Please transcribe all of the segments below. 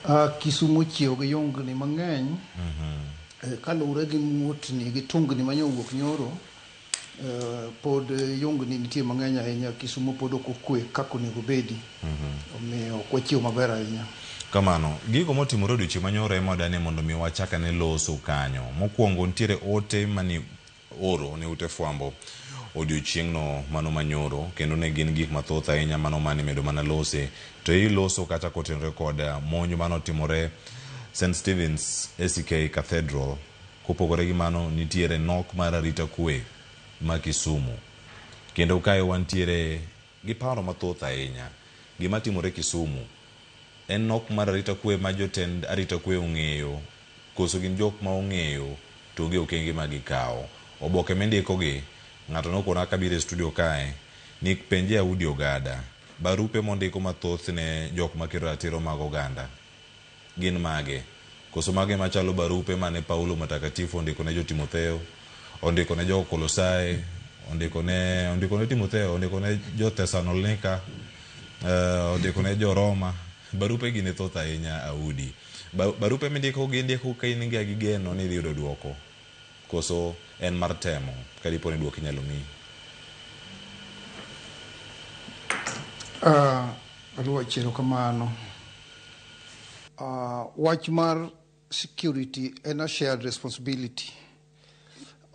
Ah, Kisumu ochiew gi yungni mang'eny Eh, kaluwre gi muotni gi tungni ma nyowuok nyoro eh, pod eh, yungni nitie mang'eny ahinya Kisumu pod ok okwe kaka onego obedi omiyo ok wachiew maber ahinya Kamano, gigo motimore odiochieng' manyoro ema wadane mondo mi wachak ane loso kanyo. Mokwongo nitiere ote mani Oro ne ute fwambo odiochieng'no mano manyoro, kendo ne gin gik mathoth ahinya mano mane imedo mana lose. To ei loso kata kotenore kod monj mane otimore St. Stephen's ACK Cathedral, kopogore gi mano nitiere nok mar arita kwe ma Kisumu. Kendo kae wantiere gi paro mathoth ahinya. Gima timore Kisumu en nok mar arita kwe ma jotend arita kwe ong'eyo Koso gin jok ma ong'eyo to gi okenge ma gikawo. Oboke mindiko gi, ng'ato nokona kabiro e studio kae ni penje Audi Ogada, barupe mondiko ma thoth ne jok ma kedo ratiro mag oganda gin mage? Koso mago ema chalo barupe mane Paulo Matakatifu ondiko ne jo Timotheo, ondiko ne jo Kolosai, ondiko ne ondiko ne Timotheo, ondiko ne jo Thessalonlika, ondiko ne jo Roma. Barupegi ne thoth ahinya a udi. Barupe mindikogi indiko ka in ga gi geno ni idhi yudo dwoko koso en mar temo ka dipo ni dwoko inyalo miyi? Aah, Oluoch erokamano. Aah, wach mar security en a shared responsibility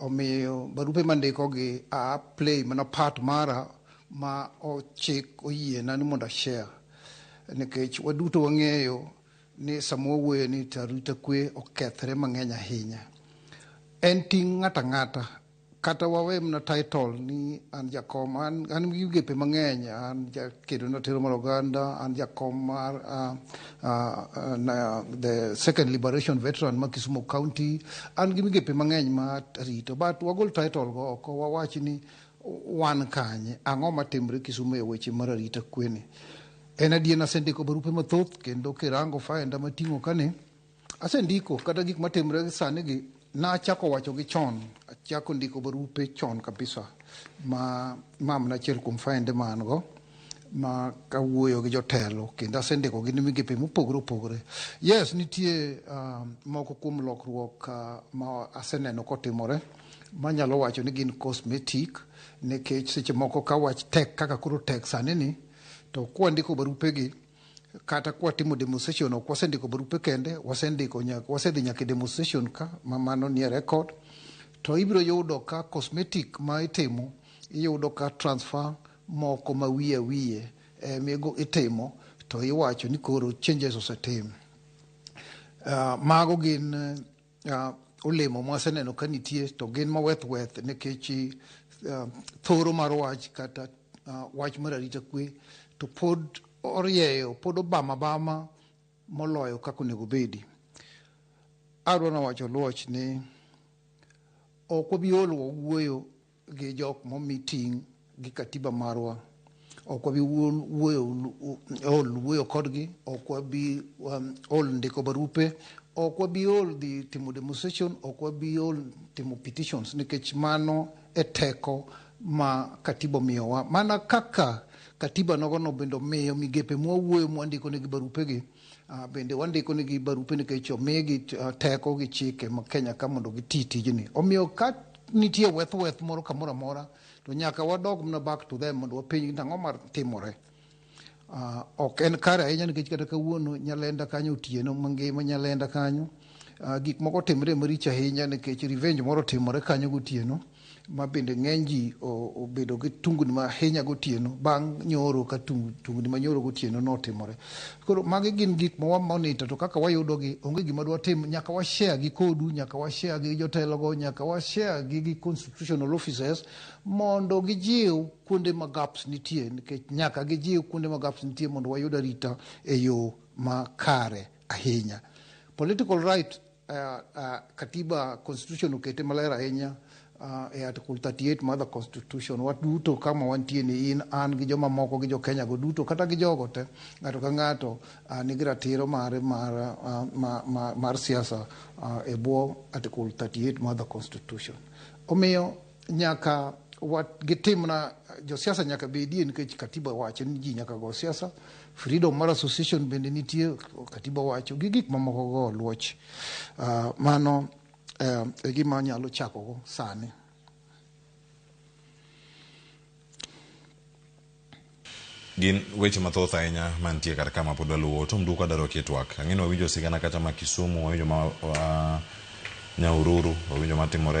omiyo barupe mandikogi a play mana part mara ma ochik oyiena ni mondo ashare nikech waduto wang'eyo ni sama wawuoyo ni to arita kwe okethre mang'eny ahinya en ting' ng'ato ang'ata Kata wawe mana title ni an jakom, an, an gi migepe mang'eny, an jakedo na tero mar oganda, an jakom mar uh, uh, na, the second liberation veteran ma Kisumu County, an gi migepe mang'eny ma rito, but wagol title go oko, wawach ni wan kanye, ang'o matimre Kisumu e weche mar arita kwene. En adier nasendiko barupe mathoth kendo kirango faenda mating'o kane, Asendiko kata gik matimre sani gi nachako wacho gi chon, achako ndiko barupe chon kabisa ma mam nachiel kuom faende ma an go ma kawuoyo gi jotelo kendo asendiko gi migepe mopogore opogore. Yes, nitie uh, moko kuom lokruok uh, ma aseneno kotimore manyalo wacho ni gin cosmetic nikech seche moko ka wach tek kaka koro tek sani ni to kwandiko barupegi kata kwatimo demonstration ok wasendiko barupe kende wasendiko nya- wasedhi nyaka e demonstration ka ma mano nie record to ibiro yudo ka cosmetic ma itimo iyudo ka transfer moko ma wiye wiye eh, migo itimo to iwacho ni koro changes osetim Ah, mago gin eh, uh, olemo mwaseneno ka nitie to gin maweth weth nikech uh, thoro mar wach kata uh, wach mar arita kwe to pod orieyo pod obama bama moloyo kaka onego bedi adwa nawacho luoch ni ok wabi ol wawuoyo gi jok momi ting' gi katiba marwa ok wabi ol wuoyo kodgi ok wabi um, ol ndiko barupe ok wabi ol dhi timo demonstration ok wabi ol timo petitions nikech mano e teko ma katiba omiyowa mana kaka katiba nogono bende omiyo migepe mwawuoyo mwandiko negi barupegi Ah, bende wandiko ni gi barupe nikech omigi ah, teko gi chike ma Kenya ka mondo giti tijni. Omiyo ka nitie weth weth moro kamoro amora to nyaka wadog mana back to them mondo wapenj ni ang'o mar timore. Ah, ok en kare ahinya nikech kata kawuono nyalenda kanyo otieno mangima nyalenda kanyo ah, gik moko timre maricho ahinya nikech revenge moro timore kanyo gotieno ma bende ng'eny ji obedo gi tungni ma ahinya gotieno bang' nyoro ka tungni ma nyoro gotieno notimore. Koro magi gin gik ma wamonita to kaka wayudogi onge gima dwatim nyaka washare gi kodu, nyaka washare gi jotelogo, nyaka washare gi gi constitutional officers mondo gijiw kuonde ma gaps nitie nikech nyaka gijiw kuonde ma gaps nitie mondo wayud arita e yo ma kare ahinya. Political right Uh, uh, katiba constitution okete maler ahinya uh, e article 38 mar the constitution waduto kama wantie ni in an gi joma moko gi jokenya go duto kata gi jogo te ng'ato ka ng'ato uh, nigi ratiro mare mar, uh, mar, mar, mar siasa uh, e bwo article 38 mar the constitution omiyo Nyaka wat gitimna josiasa nyaka bedie nikech katiba wacho ni ji nyaka go siasa freedom mar association bende nitie katiba wacho gi gik mamoko go luoch uh, mano uh, e gima nyalo chakogo sani gin weche mathoth ahinya mantie kar kama pod waluwo tom duka daro kitwak ang'eni wawinjo sigana kata ma kisumu wawinjo ma uh, nyaururu wawinjo matimore